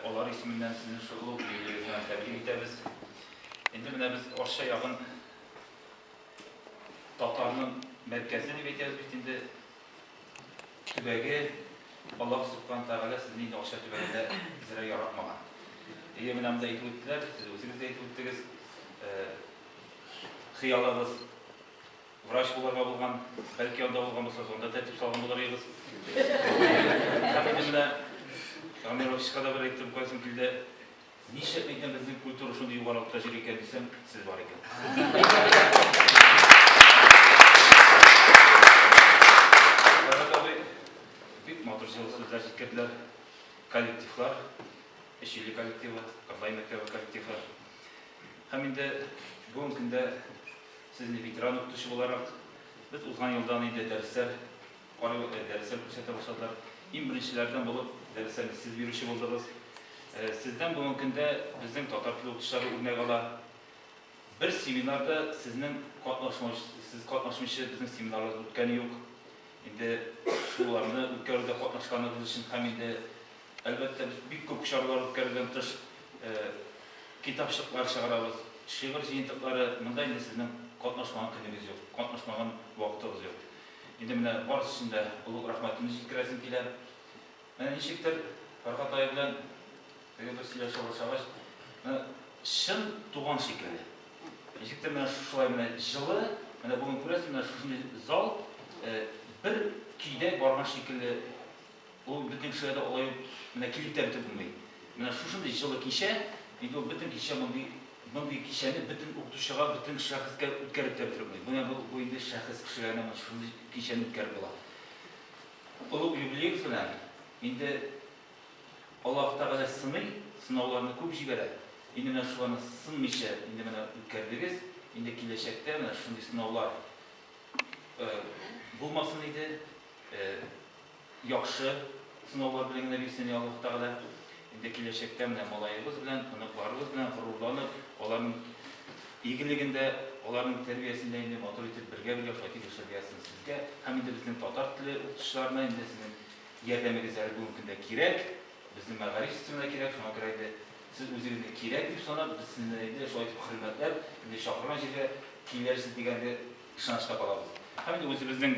Алар исеменнән сезне шуклук юбилеегыз белән тәбрик итәбез. Инде менә без Арча ягын татарның мәркәзе дип әйтәбез бит инде. Төбәге, Аллаһ Субхана Тәгалә сезне инде Арча төбәгендә эзәргә яратмаган. Әйе, менә монда әйтеп үттеләр, сез үзегез дә әйтеп үттегез, хыялыгыз. Врач булырга булган, бәлки анда булган булса, анда тәртип салган булыр идегез. Хәмидимдә Камировичка да бер әйтем кайсын килде. Ничек әйтәм безнең культура шундый югарылыкта җир икән дисәм, сез бар икән. Бик матур җылы сүзләр җиткерделәр. Коллективлар, Эчили коллективы, Карлай мәктәбе коллективы. Һәм инде бүгенге көндә Сезне ветеран укытучы буларак, без узган елдан инде дәресләр карый, дәресләр күрсәтә башладылар. Иң беренчеләрдән булып дәресләрне сез бирүче булдыгыз. Сездән бүгенге көндә безнең татар теле укытучылары үрнәк ала. Бер семинарда сезнең катнашмаучы, сез катнашмыйча безнең семинарлар үткәне юк. Инде шуларны үткәрүдә катнашканыгыз өчен һәм инде Әлбәттә, без бик күп чаралар үткәрүдән тыш, китапчыклар чыгарабыз, шигырь җыентыклары, монда инде сезнең катнашмаган көнегез юк, катнашмаган вакытыгыз юк. Инде менә барысы өчен дә олуг рәхмәтемне җиткерәсем килә. Менә ничектер Фәргать ая белән теге бер сөйләшә башлагач, менә чын туган шикелле. Ничектер менә шулай менә җылы, менә бүген күрәсез, менә шушындый зал бер көйдә барган шикелле Ул бөтен кешегә дә алай ук менә килеп тә бетеп булмый. Менә шушындый җылы кичә, инде ул бөтен кичә мондый, мондый кичәне бөтен укытучыга, бөтен шәхескә үткәреп тә бетереп булмый. Менә бу, бу инде шәхес кешегә генә менә шушындый кичәне үткәреп була. Олуг юбилеегыз белән, инде Аллаһ Тәгалә сыный, сынауларны күп җибәрә, инде менә шуларны сынмыйча инде менә үткәрдегез, инде киләчәктә менә шушындый сынаулар, э, булмасын иде, э, Яхшы сынаулар белән генә бирсен, йа Аллаһ Тәгалә. Инде киләчәктә менә малаебыз белән, оныкларыбыз белән горурланып, аларның игелегендә, аларның тәрбиясендә инде матур итеп бергә-бергә шайтып яшәргә язсын сезгә һәм инде безнең татар теле укытучыларына инде сезнең ярдәмегез әле бүгенге көндә кирәк, безнең мәгариф системына кирәк, шуңа күрә инде сез үзегезне кирәк дип санап, без сезне инде шулай итеп хөрмәтләп, инде чакырган җиргә килерсез дигән инде ышанычта калабыз. Һәм инде үзебезнең.